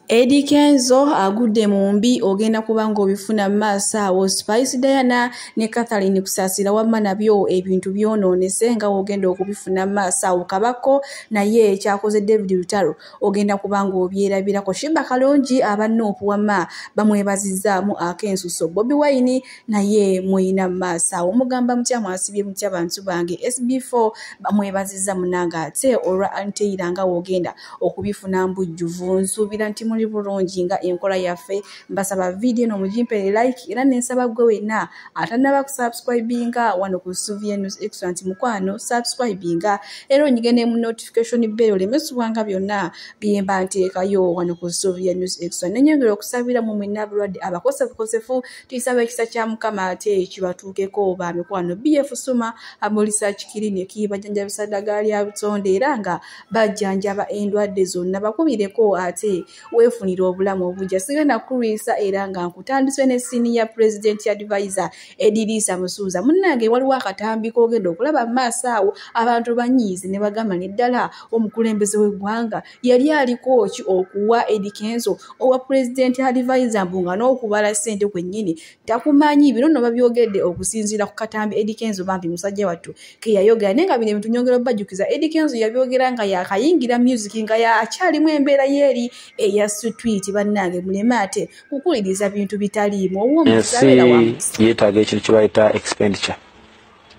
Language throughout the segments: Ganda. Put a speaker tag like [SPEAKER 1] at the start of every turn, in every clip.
[SPEAKER 1] Eddie Kenzo agudde mu mbi ogenda kuba ng'obifuna mu maaso awo Spice Diana ne Catherine Kusasira wamma nabyo ebintu byonoonese nga w'ogenda okubifuna mu maaso awo Kabako naye ekyakoze David Lutalo ogenda kuba ng'obyerabirako Shiba Kalungi aba Nuupu wamma bamwebazizzaamu ak'ensuso Bobi Wine naye muyina mu maaso awo mugamba mutya mwasibye mutya bantu bange SB4 bamwebazizza munange ate olwa Anteyira nga w'ogenda okubifuna mbujjuvu nsuubira nti muli bulungi nga enkola yaffe mbasaba vidiyo eno mugimpere like era nensaba gwe wenna atanaba kusubscribinga wano ku suvienus excellent mukwano subscribinga era onyige ne mu notification bell olemesubwanga byonna byemba nteekayo wano ku suvienus excellent nenyongera okusabira mu mwenna abalwadde abakosefukosefu tuyisaba ekisa kya mukama ate kibatuukeko ba mikwano bf suma amulisakikirini ekiyibajanjabisadaga lya butonde era nga bajjanjaba endwadde zonna bakubireko ate weefunira obulamu obujja sigenda kukulwisa era nga nkutandise ne siniya president advisor ediriisa musuuza munnange waliwo akatambi kogenda okulaba mu maaso awo abantu banyiize ne bagamba ne ddala omukulembeze w'eggwanga yali aliko ki okuwa edikenzo owa president advisor mbu nga n'okubala ssente kwennyini takumanyi bino no babyogedde okusinziira ku katambi Eddy Kenzo bambi musajja wattu ke yayogera naye nga bino ebintu nyongera obajjukiza Eddy Kenzo yabyogera nga yakayingira music nga yakyalimu embeera yeeri eya street bannange muleme ate kukuwuliriza bintu bitaliimu ensi yeetaaga
[SPEAKER 2] ekintu kye bayita expenditure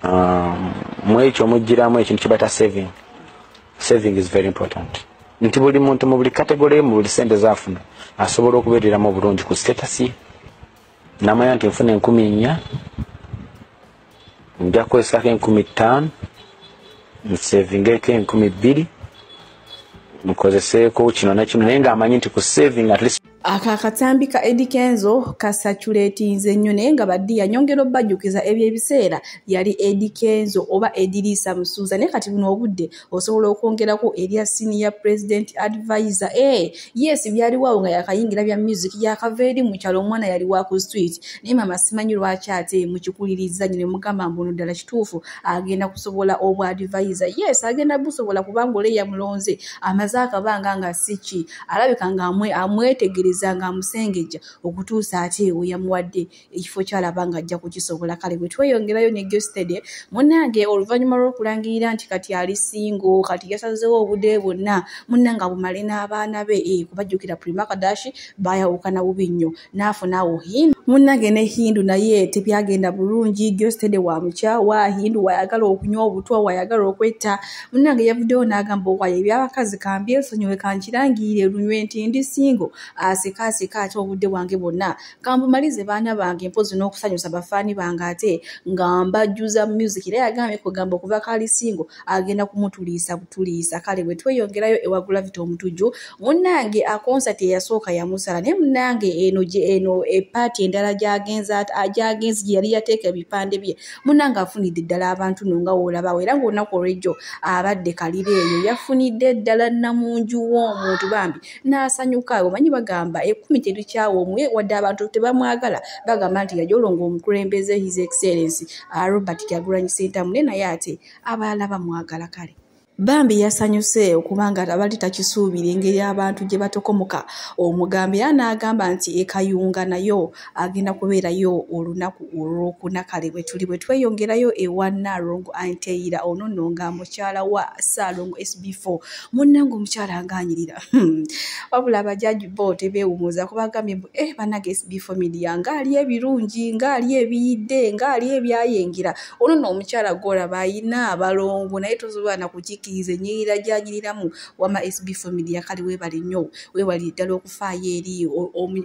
[SPEAKER 2] um, mwekyo mujjiramu ekintu kibata saving saving is very important nti buli muntu mu buli kategole mu buli sente zafuna asobola okubeereramu obulungi ku statasi namanya nti nfuna enkumi nnya nja kukozesako enkumi ttaano nsavingeko enkumi bbiri nkozeseeko kino nekino naye ngaamanyi nti ku saving at least ako akatambi ka
[SPEAKER 1] edi kenzo kasaculatinze nnyo naye nga baddi yanyongera obajjukiza ebyo ebiseera yali edi kenzo oba ediriisa musuuza naye kati buno obudde osobola okwongerako erya siniya president advisor e eh, yes byaliwaawo nga yakayingira bya music yakava eri mu kyalo omwana yali wa ku street naye mama simanyi lwaki ate mukikuliriza nyo ne mugamba mbuno ddala kituufu agenda kusobola obwa advisor yes agenda busobola kubanga oleya mulonze amaze akabanga nga siki alabika nga amwetegereza nga amusengejja okutuusa ate ewe yamuwadde ekifo kyalaba nga ajja kukisobola kale bwe tweyongerayo ne gestede munnange oluvannyuma lw'okulangirira nti kati ali singo kati yasazewo obude bwonna munnange abumale n'abaana be eh, kubajjukira primakadashi bayawukana bubi nnyo n'afuna awo hindu munnange ne hindu naye tebyagenda bulungi gyostede wa mukyawa hindu wayagala okunywa obutwa wayagala okwetta munnange yavuddewo n'agamba owaye ebyabakazi kambyesonyiwe kankirangirire lunywe nti ndi singo aseka aseka ate obudde bwange bwonna kambumalize baana bange mpozi n'okusanyusa bafaani bange ate nga mbajjuza music era yagambye kugamba okuva kaali singo agenda kumutuliisa butuliisa kale bwe tweyongerayo ewa gravity omutujju munnange akonsati eyasooka yamusala naye munnange eno eno epaati endala gyagenze gyagenze gye yali yateeka ebipande bye munnange afunidde ddala abantu no nga woolabawo era ngaolunaku olwejjo abadde kalira eyo yafunidde ddala namunju w'omuntu bambi n'asanyuka omanyi bagamba ekumi terikyawa omwe wadde abantu tebamwagala bagamba nti yajolonga omukulembeze his excellence ah, robert kyagulanyi sentamu ne naye ate abalala bamwagala kale bambi yasanyuse okuba nga abali takisuubira engeri abantu gye batokomoka omugambo era n'agamba nti ekayunga nayo agenda kubeerayo olunaku olwokuna kale bwe tuli bwe tweyongerayo ewa nalongo anteyira ono nno nga mukyala wa saalongo sb4 munnange omukyala ngaanyirira hmm. wabula abajaji bo tebeewumuza kubagambye mbu e eh, banage sb4 midia ng'ali ebirungi ng'ali ebiyidde ng'ali ebyayengera ono no omukyala gwolaba ayina abalongo naye tosobola nakukikiriza enyirira gyanyiriramu wama sb family yakali webali nnyo webali ddala okufaayo eri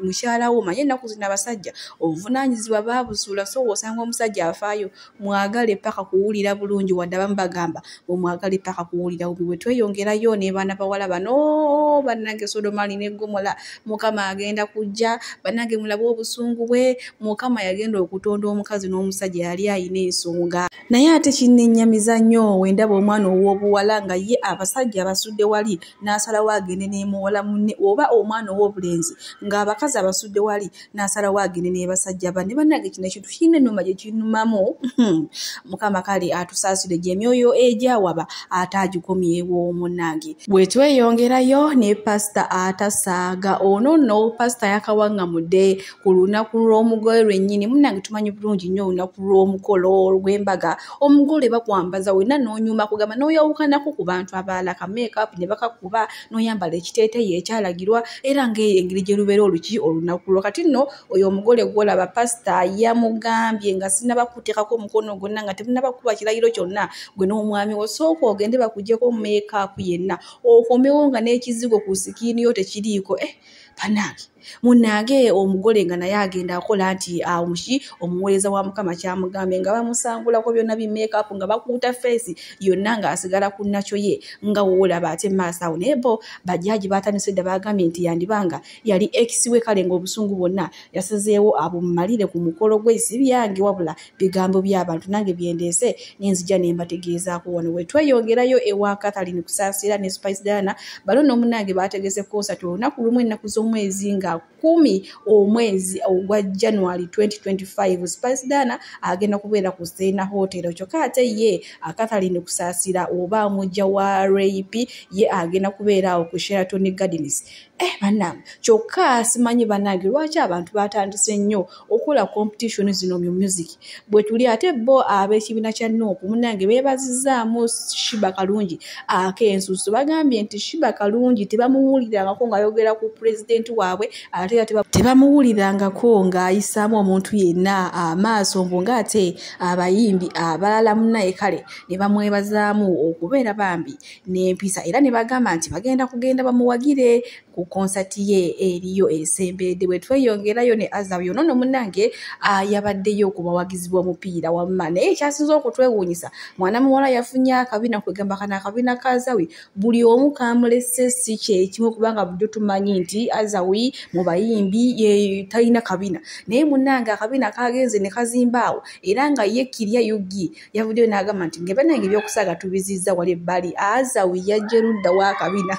[SPEAKER 1] mukyala wo manye ennaku zino abasajja obuvunanyizibwa babusuula so osanga omusajja afaayo mwagale paka kuwulira bulungi wadde abamu bagamba omwagala epaka kuwulira bubi bwe tweyongerayo ne baana bawala bano bannange sodoma alina eggomola mukama agenda kujja bannange mulabe obusungu bwe mukama yagenda okutonda omukazi n'omusajja yali alina ensonga naye ate kinnenyamiza nnyo wendaba omwana ow'obuwala nga ye abasajja abasudde wali n'asalawo agende n'emuwala munne oba omwana ow'obulenzi ng'abakazi abasudde wali n'asalawo agende n'ebasajja banne bannange kino ekintu kirina ennuma gye kinumamu hmm. mukama kale atusaasire gye emyoyo egyawaba ate agikomyewo munnange bwe tweyongerayo ne pasita atasaaga ono nno pasita yakawaŋŋamudde ku lunaku lw'omugole lwennyini munnange tumanyi bulungi nnyo olunaku lw'omukolo olw'embaga omugole bakwambaza wenna n'onyuma kugamba n'oyawukanako ku bantu abalala ka makeup ne bakakuba n'oyambala ekiteeteyi ekyalagirwa era ng'eyo engeri gye lubeera oluki olunaku lwo kati nno oyo omugole gwolaba pasita yamugambye nga sinaba kuteekako omukono gwonna nga temunaba kuba kirayiro kyonna gwe n'omwami wo sooka ogende bakugyeko meekaapu yenna okomewo nga n'ekizigo ku sikiini yo tekiriiko eh banange munange omugole nga naye agenda akola nti amuki ah, omuweereza wa mukama kyamugambye nga bamusangulako byonna bimekapu nga bakuuta feesi yonna ng'asigala ku nakyo ye nga woolaba ate maaso awo naye bo bajaaji baatandise dda baagambye nti yandibanga yali ekisiwe kale ng'obusungu bwonna yasazeewo abumalire ku mukolo gwe si byange wabula bigambo by'abantu nange byendeese nenzija ne mbategeezaako wano we tweyongerayo ewa catherine kusaasira ne spice diana balo n'omunange baategese konsati olunaku lumu ennaku z'omwezi nga kumi omwezi ogwa january 2025 spice diana agenda kubeera ku seena hotel kyokka ate ye catherine kusaasira oba mujja wa rap ye agenda kubeera awo ku sheraton gardens eh banange kyokka simanyi banange lwaki abantu batandise nnyo okukola competition zino mu music bwetuli ate bo ab'ekibiina kya nuupu munange beebazizaamu shiba kalungi ak'ensusu bagambye nti shiba kalungi tebamuwulirangako ng'ayogera ku pulezidenti waabwe ate era tebamuwulirangako ng'ayisaamu omuntu yenna amaaso mbu ng'ate abayimbi abalala munaye kale ne bamwebazaamu okubeera bambi n'empisa era ne bagamba nti bagenda kugenda bamuwagire ku konsati ye eriyo esemberedde bwe tweyongerayo ne azabu yono no munange yabaddeyo ku bawagizi b'omupiira wamma naye ekyasinza okutwewuunyisa mwana muwala yafunye akabina kwegamba kana akabina ka azawi buli omu kamulese si kyekimu kubanga bujo tumanyi nti azawi mu bayimbi talina kabina naye munange akabina kagenze ne kazimbaawo era nga ye kirya yugi yavuddeyo n'agamba nti nge banange ebyokusaaga tubizizza wali ebbali azawi yajja erudda wakabina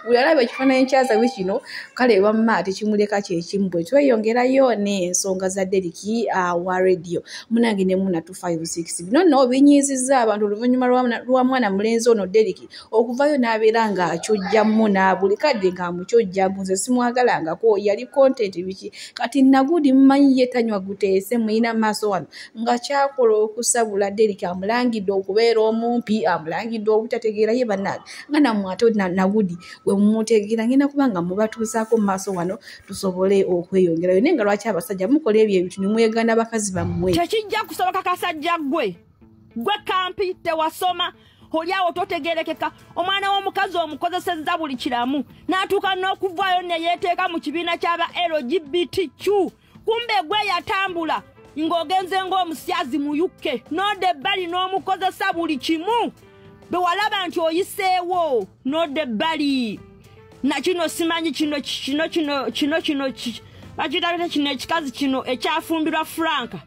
[SPEAKER 1] buli alaba ekifaananyi kyazawi kino kale wamma tekimuleka kyekimu bwe tweyongerayo n'ensonga za deriki ah, wa radio munange ne muna 256 bino nno binyiizizza abantu oluvannyuma lwa mwana mulenzi ono deriki okuvayo n'abeera ng'akyojja muna buli kadde ng'amukyojja mbu nze simwagalangako yali kontenti biki kati nagudi mmanyi ye tanywa guteese muyina maaso wano nga kyakola okusabula derik amulangidde okubeera omumpi amulangidde obutategeera ye banange nga namwe ate nagudi wemumutegeera ngenda kuba nga mubatuusaako mu maaso wano tusobole okweyongerayo naye nga lwaki abasajja mukola ebyo ebintu nimwegana bakazi bammwe tekijja kusoboka
[SPEAKER 3] kasajja gwe gwe kampi tewasoma olyawo totegerekeka omwana w'omukazi omukozesezza buli kiramu n'atuuka n'okuvaayo neyeeteeka mu kibiina ky'aba lgbtq kumbe gwe yatambula ng'ogenze ng'omusyazi mu yukke n'odda ebbali n'omukozesa buli kimu bwe walaba nti oyiseewo n'odda ebbali na kino simanyi kino kino kino kino kino bakitakita kino ekikazi kino ekyafumbirwa franka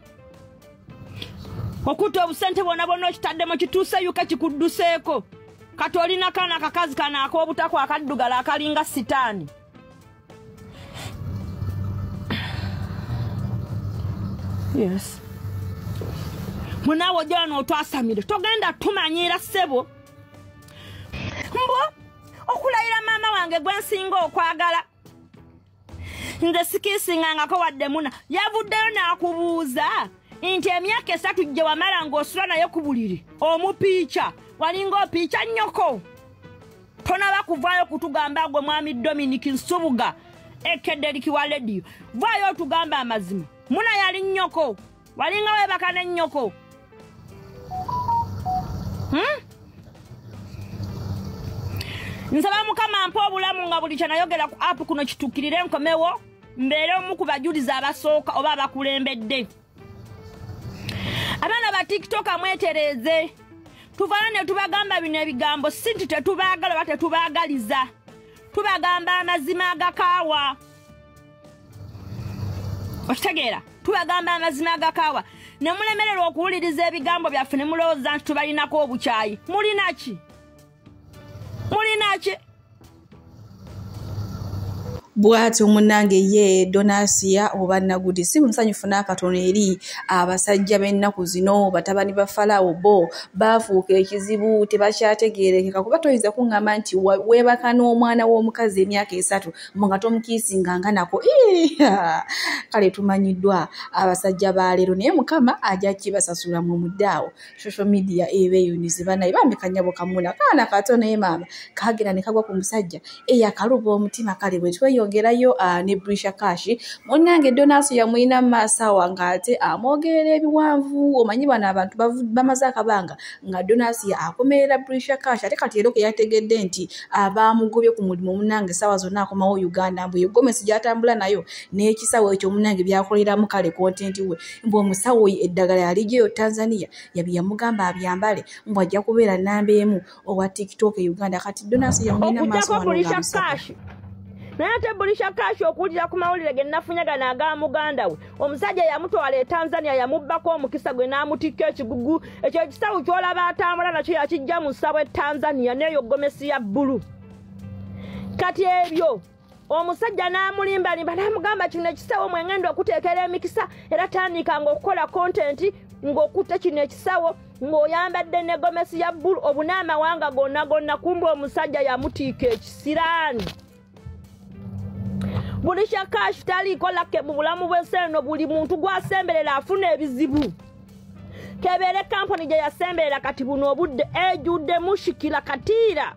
[SPEAKER 3] okutta obusente bwona bwona okitaddemu kituuse yuka kikudduseeko kati olina kaana akakazi kano ak'obutako akaddugala akalinga sitaani yes munaawe ojala n'otwasamire togenda tumanyiira ssebo mbu okulayira maama wange gwe nsinga okwagala nze sikiisingangako wadde muna yavuddeyo n'akubuuza nti emyaka esatu gye wamala ng'osula naye ku buliri omupiica walinga opiica nnyoko tonaba kuvaayo kutugamba gwe mwami dominic nsubuga ekedderiki wa lediyo vaayo otugamba amazima muna yali nnyoko walinga webaka ne nnyoko hmm? nsaba mukama mpa obulamu nga buli kyenayogera ku apu kuno kituukirire nkomewo mbeere omu ku bajulizi abasooka oba abakulembedde abaana ba tiktoka mwetereeze tuvala ne tubagamba bino ebigambo si nti tetubaagala oba tetubaagaliza tubagamba amazima agakaawa okitegeera tubagamba amazima agakaawa ne mulemererwa okuwuliriza ebigambo byaffe ne mulowooza nti tubalinako obukyayi mulina ki mulinaki
[SPEAKER 1] bwati omunange ye donasiya oba nagudi si musanyufu n'akatono eri abasajja b'ennaku zino batabani ba falawo bo baafuuka ekizibu tebakyategeerekeka kuba toyinza kuŋŋamba nti weebaka n'omwana w'omukazi emyaka esatu mu nga tomukiisinga nga nako kale tumanyiddwa abasajja ba leero naye mukama ajja kibasasula mu muddaawo social media ebeyunize banaye bambi kanyabo kamuna kaana kato naye maama kagera ne kagwa ku musajja eyakaluba omutima kale bwe tweyongerayo ah, ne brisha kashi munange donasi yamulina maasawa ng'ate amwogerera ebiwanvu omanyi bano abantu bamaze akabanga nga donasi akomerera brisha kashi ate kati ero keyategedde nti abaamugobye ah, ku mulimu munange saawa zonna akomawo uganda mbu egomesi gyatambula nayo n'ekisawo ekyo munange byakoleramu kale kontenti we mbu omusawo oyo eddagala yalijeyo tanzania yabi yamugamba abyambale mbu ajja kubeera namba emu owa tiktok e uganda kati donasi yamulina maaso naye
[SPEAKER 3] ate bulisha kashi okuwulira ku mawulire ge nafunyagana aga muganda we omusajja yamutwala e tanzania yamubbako omukisa gwe n'amutikka ekigugu ekyo ekisawo kyolaba atambula nakyo yakijja mu ssabo e tanzania neeyo gomesi ya bbulu kati ebyo omusajja n'amulimbalimba n'amugamba kino ekisawo mwengenda okuteekera emikisa era tandika ngaokukola kontenti ng'okutte kino ekisawo ng'oyambadde ne gomesi ya bbulu obuna amawanga gonna gonna kumba omusajja yamutiika ekisiraani buli kyakashi taliikolake mu bulamu bw'enseeno buli muntu gwasemberera afuna ebizibu kebeere kampuni gye yasemberera kati buno obudde ejudde mushikira katiira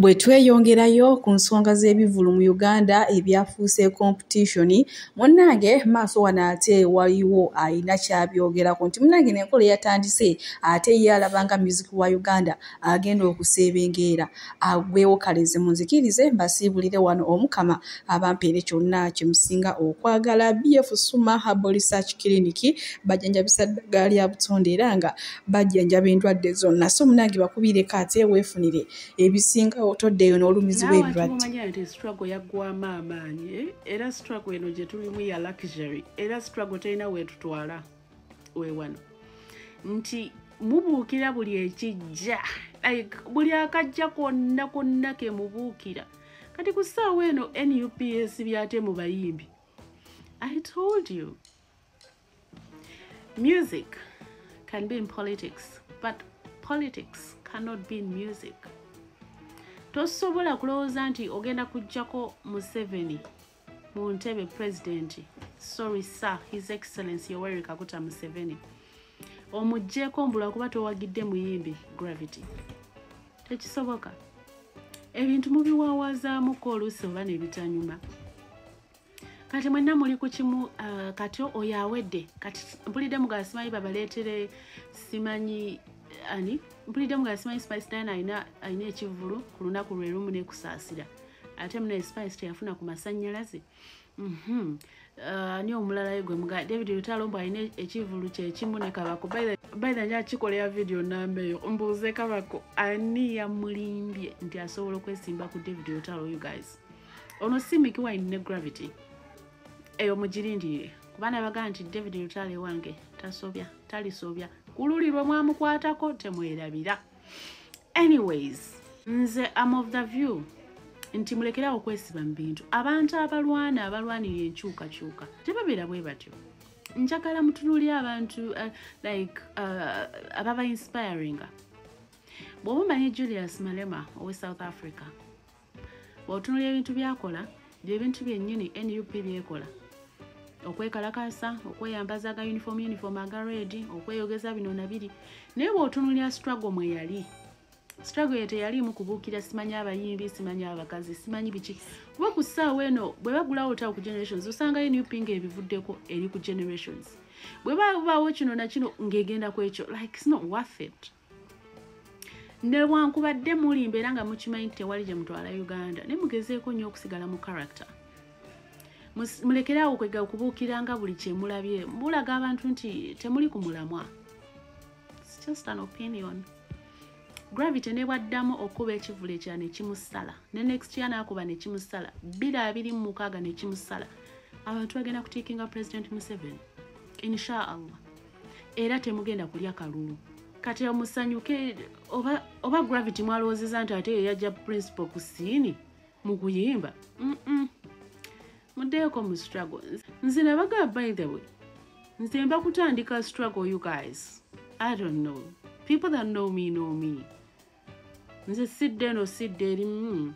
[SPEAKER 1] Bwe tweyongerayo ku nsonga z'ebivulu mu Uganda ebyafuuse komputishoni, munnange maaso wano ate waliwo alina kyabyogerako nti munnange nenkola eyatandise ate ye alaba nga muziki wa Uganda agenda okuseebengeera agwewo kaleze munzikirize mbasiibulire wano omukama abampeere kyonna kye musinga okwagala BF Suma Herbal Research Clinic bajanjabisa ddagala lya butonde era nga bajjanjaba endwadde zonna so munange bakubiireko ate weefunire ebisinga otoddeyo n'olumizibwa ebirwaddestruggle
[SPEAKER 4] yaggwamu amaanyi eh? era struggle eno gye tulimu ya luxury era struggle terina weetutwala wewano nti mubuukira buli ekijja like buli akajja konna konna ke mubuukira kati ku ssaawa eno nups byate mu bayimbi i told you Music can be in politics, but politics cannot be in music. Tosobola kulowooza nti ogenda kujjako Museveni mu ntebe pulezidenti. Sorry sir, his excellency Yoweri Kaguta Museveni. Omujjeeko mbula kuba towagidde muyimbi Gravity. Tekisoboka. Ebintu mubiwawaazaamuko oluusi oba ne bitanyuma. kati mwenna muli ku kimu uh, kati oyo awedde kati mpulidde mugala simanyi babaleetere simanyi uh, ani mpulidde mugala simanyi spice dan alina alina ekivulu ku lunaku lwe lumu nekusaasira ate muna spice teyafuna ku masannyalaze mhm. uh, ani omulala ye gwe muga david lutalo mbu alina ekivulu kyekimu ne kabako baitha nja kikolera vidiyo namba eyo mbuuze kabako ani yamulimbye nti asobola okwesimba ku david lutalo you guys ono si miki wine ne gravity eyo mugirindirire kuba nabagaa nti david lutale wange tasobya talisobya kululi lwe mwamukwatako temwerabira anyways nze am of the view nti mulekerawo okwesiba mu bintu abantu abalwana abalwanira enkyukakyuka tebabeera bwe batyo njagala mutunuli abantu uh, like uh, ababa inspiringa bw'oba omanyi julius malema owe south africa otunulira ebintu byakola byebintu byennyini nup byekola okwekalakasa okweyambaza aga uniform uniform aga red okweyogeza bino nabiri naye bwotunulira struggle mweyali struggle ye teyaliimu kubuukira simanyi abayimbi simanyi abakazi simanyi biki kuba ku ssaawa eno bwe bagulawo otawo ku generations osanga nup nga ebivuddeko eri ku generations bwe babaawo kino nakino ng'egenda ku ekyo like sno worth it newankubadde mulimba era nga mukimanyi nti tewali gye mutwala uganda naye mugezeeko nnyo okusigala mu character mulekeraawo kwega okubuukira nga buli kyemulabye bulaga abantu nti temuli ku mulamwa just an opinion gravity nebwaddamu okuba ekivulu ekira nekimusala ne next ya nakuba nekimusala biri abiri mu mukaaga nekimusala abantu bagenda kutiikinga president museven inshaallah era temugenda kulya kalulu kati amusanyuke oba, oba gravity mwalowoozeza nti ate yeyajja principal ku siini mu kuyimba mm -mm. muddeeko mu struggle nze nabagaa by the way nze mba kutandika struggle you guys i don't know people that know me know me nze sidde eno sidde erimu hmm.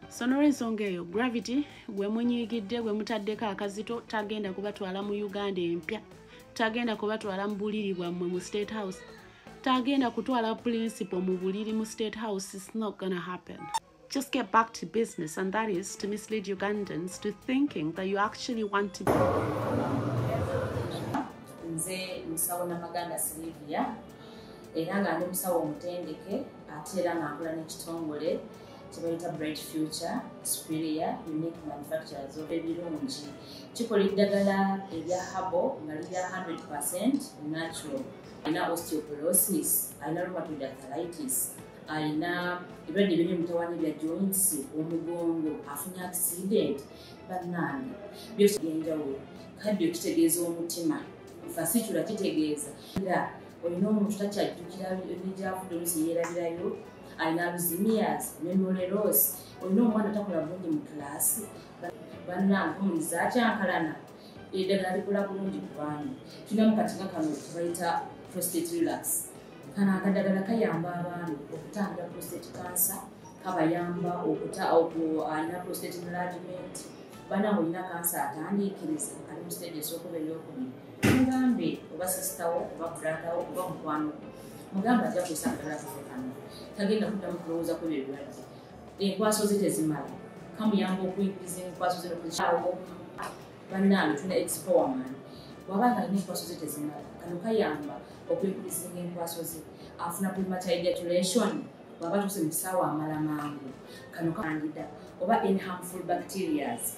[SPEAKER 4] so nolwensonga eyo gravity gwe munyiigidde gwe mutaddeko akazito tagenda kubatwala mu uganda empya tagenda kubatwala mu buliri bwammwe mu state house tagenda kutwala principle mu buliri mu state house is not gonna happen just get back to business, and that is to mislead Ugandans to thinking that you actually want to.
[SPEAKER 1] nze musawo namaganda silivia era nga ndi musawo omutendeke ate era nga nkola n'ekitongole kyebayita bright future superior unique manufacturers oba ebirungi kikola eddagala ebya habo nga lirya 100 percent natural alina osteoporosis alina rheumatoid arthritis alina ebirwadde biri mutawana bya joins omugongo afunye accident bannange byosi byenjawulo kaddio kitegeeza omutima fasitula kitegeeza era olina omuntu takyajjukira ebijavudde olusi yeerabirayo alina aluzimias nemoleros olina omwana takola bulungi mu kulaasi bannange omuliza akyankalana eddagala likola bulungi ku baana tulinamu katinga kano kebayita prostate relax kano akadagala kayamba abaami okutangira prostate cancer kabayamba okuta alina prostate enlargement bana olina kansa atandiikiriza ali mu stage esokuba eyokubiri mugambe oba sisitawo oba bradawo oba mukwano mugambe ajja kusa akadala kafe kano tagenda kuddamu kulowooza ku ebyo ebirwadde enkwaso ze tezimala kamuyamba okuinkiriza enkwaso ze nokukyawo bannange tuna expowa mani waba nga alina enkwaso ze tezimala kano kayamba okwekulisinga enkwaso ze afuna prematuration bwaba tuse mu kisaawa amala mangu kano kangida oba in harmful bacterias